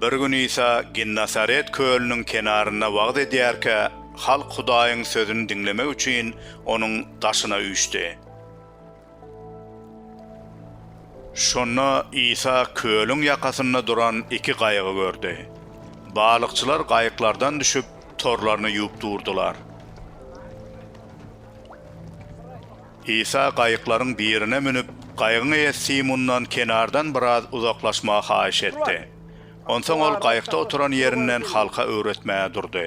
Bir gün Isa Ginnasaret kölüniň kenarynda wagyz edýärkä, halk Hudaýyň sözüni diňlemek üçin onuň daşyna üýşdi. Şonda Isa kölüň ýakasynda duran iki gaýygy gördi. Balykçylar gaýyklardan düşüp, torlaryny ýuwup durdular. Isa gaýyklaryň birine münüp, gaýygyň eýesi Simundan kenardan biraz uzaklaşmagy haýyş etdi. Onsoň ol gaýykda oturan ýerinden halka öwretmäge durdy.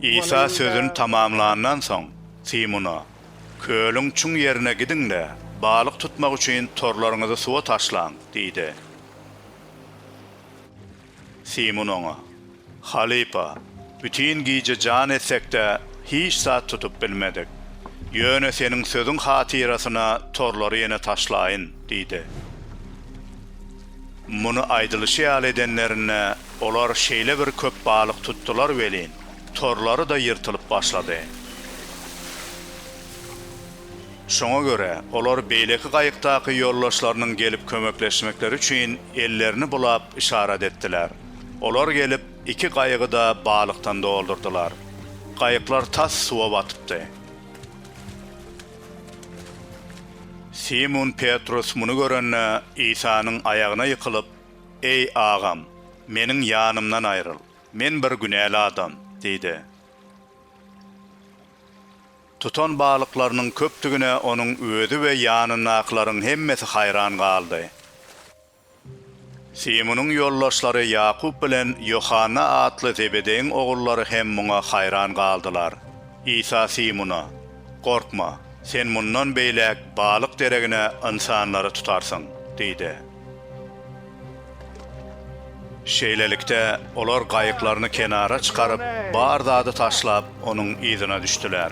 Isa sözüni tamamlandan soň, Simuna, Kölüň çuň ýerine gidiň-de, balyk tutmak üçin torlaryňyzy suwa taşlaň diýdi. Simun oňa, Halypa, bütin gije jan etsek-de, hiç zat tutup bilmedik. Ýöne seniň sözüň hatyrasyna torlary ýene taşlaýyn diýdi. Muny aýdylyşy ýaly edenlerinde, olar şeýle bir köp balyk tutdular welin, torlary-da ýyrtylyp başlady. Şoňa görä, olar beýleki gaýykdaky ýoldaşlarynyň gelip kömekleşmekleri üçin ellerini bulap yşarat etdiler. Olar gelip, iki gaýygy-da balykdan doldurdylar. Gaýyklar tas suwa batypdy. Simun Petrus muny görende, Isanyň aýagyna ýykylyp, Eý, Agam, meniň ýanymdan aýryl, men bir günäli adam! diýdi. Tutan balyklarynyň köpdügine onuň özi we ýanyndakylaryň hemmesi haýran galdy. Simunyň ýoldaşlary Ýakup bilen Ýohanna atly Zebedeýiň ogullary hem muňa haýran galdylar. Isa Simuna, Gorkma, sen mundan beýläk balyk deregine ynsanlary tutarsyň diýdi. Şeýlelikde, olar gaýyklaryny kenara çykaryp, bar zady taşlap, onuň yzyna düşdüler.